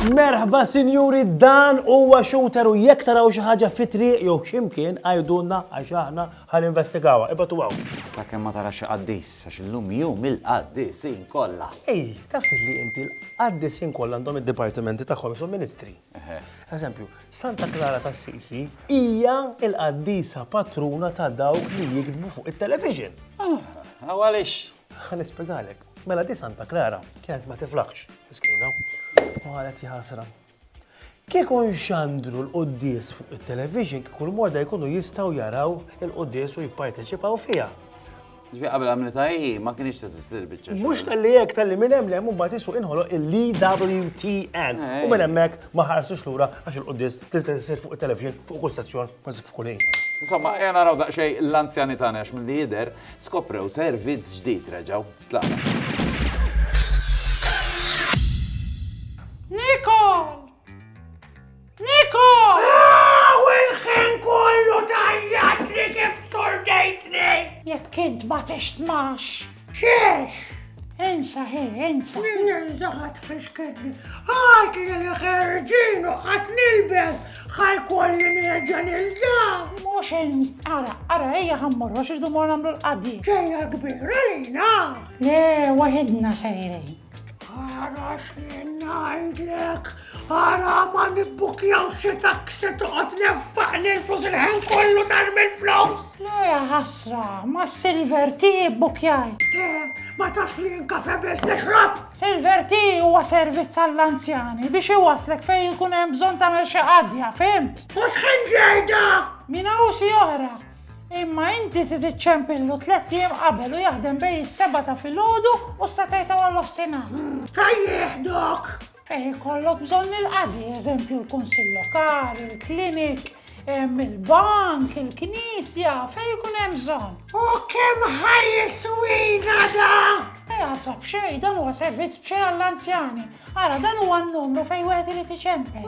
Merħba sinjuri dan huwa shooter u jekk taraw xi ħaġa fitri jew x'imkien għajdulna għax aħna ħal investigawha. Ibgħat u hawn. Sakemm ma tarax xi qaddis, għax illum jum il-qaddisin kollha. Ej, taf li inti l-qaddisin kollha għandhom id-dipartimenti tagħhom isu ministri. Eżempju, Santa Klara t'Assisi hija l-qaddisa patruna ta' dawk li jiktbu fuq it-television. Aw għaliex? Ħa nispjegalek. Mela di Santa Klara kienet ma tiflaħx, miskina, u qalet jaħasra. Kieku nxandru l-quddies fuq it-television kieku l-morda jkunu jistgħu jaraw il-quddies u jipparteċipaw fiha. Ġvi qabel għamlita hi, ma kienx teżisti l-bicċa. Mux tal-li jek tal-li minn hemm lemm mbagħad isu inħoloq il-LWTN. E eh. U minn hemmhekk ma ħarsux lura għax il-quddis tista' tisir fuq it-televixin fuq kull stazzjon kważi f'kull ħin. Insomma, jena raw daqsxej l-anzjani tagħna għax mill-li jidher skoprew servizz ġdid reġgħu. Tlaqna. Nikol! Niko! Aw il-ħin kollu tajjatli kif turdejtni! Jekk int ma tismax. Xiex! Insa hi, insa. Ninsa ħat fisketni. Għat li li ħerġinu ħat nilbes ħajkolli nerġa nilza. Mux ins, ara, ara, eja ħammur, għax irdu mor namlu l-qaddi. Ġeja kbira lina. Le, wahidna sejrin. Ara x'jien ngħidlek, ara ma nibbukjaw xi taksi toqgħod neffaq li l-flus il-ħin kollu dar mill-flus. Le ħasra, ma Silver ti bbukjaj. Te, ma tafx li jinkafe biss nixrob. Silver ti huwa servizz għall-anzjani biex iwaslek fejn ikun hemm bżonn tagħmel xi qadja, fimt? U x'ħin ġejda? Min hawn si oħra. Imma inti trid iċċempillu tliet ijiem qabel u jaħdem bejn is-sebgħa ta' filgħodu u s-setgħa ta' warnofsinhar. Ta' jieħdok! Fejn ikollok bżonn il-qadi, eżempju l-Kunsill Lokali, il-klinik, il-bank, il-knisja, fejn ikun hemm bżonn. U kemm ħajjiswina da? Jaħsab xejn, dan huwa servizz b'xejn għall-anzjani. Ara, dan huwa n-numru fejn wieħed irid iċempel.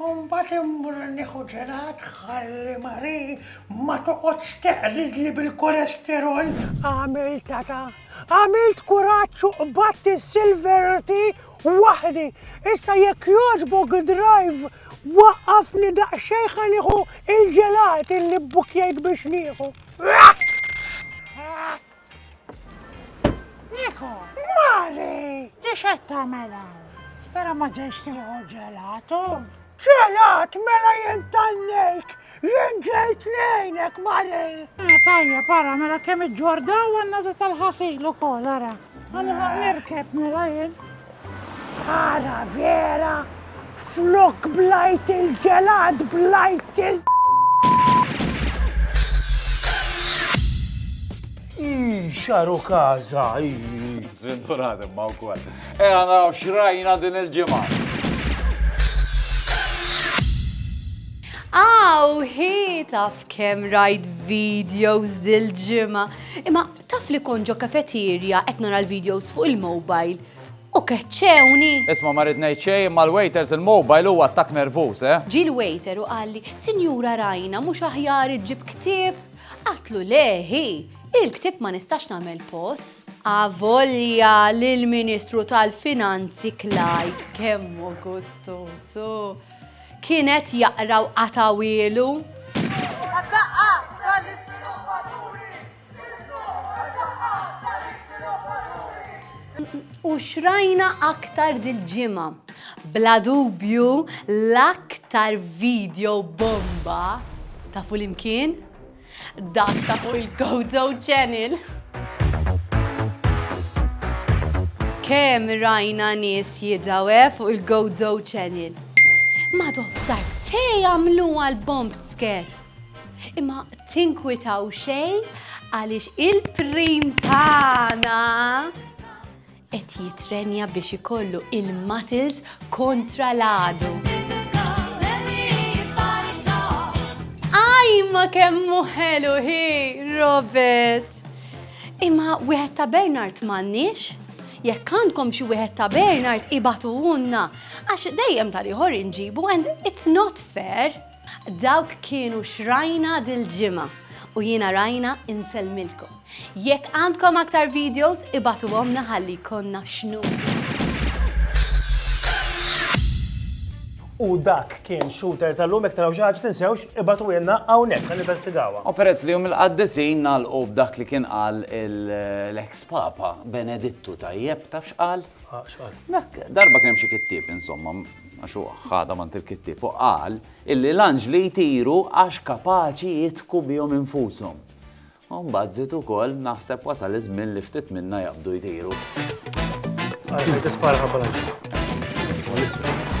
U mbagħad immur nieħu ġelat ħalli Marie ma toqgħodx teqlidli bil-kolesterol. Għamil tata, għamilt kuraġġ u qbadt is-silver tea waħdi. Issa jekk jogħġbok drive waqqafni daqsxejn ħa nieħu il-ġelat illi bbukjajt biex nieħu. Niko! Mari! Tixet ta' mela! Spera ma ġejx tieħu ġelatu. Ġelat mela jien tannejk! Jien ġejt nejnek, Mari! Eh, tajja, para, mela kemm iġġordaw għanna di tal-ħasil u kol, ara. Għanna nirkeb mela jien. Ħsara vera, flok blajt il-ġelat blajt il Xaru kaza, Zventurat imma u kol. E għana xrajna din il-ġimgħa. Aw, hi taf kem rajt videos dil-ġimgħa. Imma Taf li kont ġo cafeteria qed nara l-videos fuq il-mobile u keċċewni! Isma' ma rrid ngħid xejn imma l-waiters il-mobile hu attakk nervuż, eh! Ġie l-waiter u qalli, Sinjura Rajna mhux aħjar iġġib ktieb? Għadtlu le hi! Il-ktieb ma nistax nagħmel pos. Avolja li l-Ministru tal-Finanzi Clyde kemm hu gustużu! Kien qed jaqra u qatgħu ilu! U xrajna aktar dil-ġimgħa. Bla dubju l-aktar video bomba ta' full imkien dak ta' fuq il-Gozo Channel. Kemm rajna nies jidawe fuq il-Gozo Channel. Madoftar, te jagħmluha l-bomb scare. Imma tinkwitaw xejn għaliex il-prim tagħna qed jitrenja biex ikollu il-muscles kontra l-għadu. Ajma kemmu ħelu hi, Robert! Imma wieħed ta' Bernard m'għandniex? Jekk għandkom xi wieħed ta' Bernard ibatu unna, għax dejjem tal-ieħor inġibu and it's not fair. Dawk kienu x'rajna dil-ġimgħa u jiena Rajna insellmilkom. Jekk għandkom aktar videos ibagħtuhomlna ħalli jkollna x'nuru. U dak kien Shooter tal-lum jekk taraw xi ħaġa tinsewx ibagħtuhielna hawnhekk ħa ninvestigawha. U peress li Jum il-Qaddisin nagħlqu b'dak li kien qal l-eks Papa Benedittu tajjeb, taf x'qal? X'qal? Dak darba kien hemm xi kittieb insomma, għax hu ħadha m'għand il-kittieb u qal illi l-anġli jtiru għax kapaċi jidhku bihom infushom. U mbagħad żied ukoll, naħseb wasal iż-żmien li ftit minna jaqbdu jtiru. Għalfejn tispara ħabba l-anġli? Huwa l-isfel.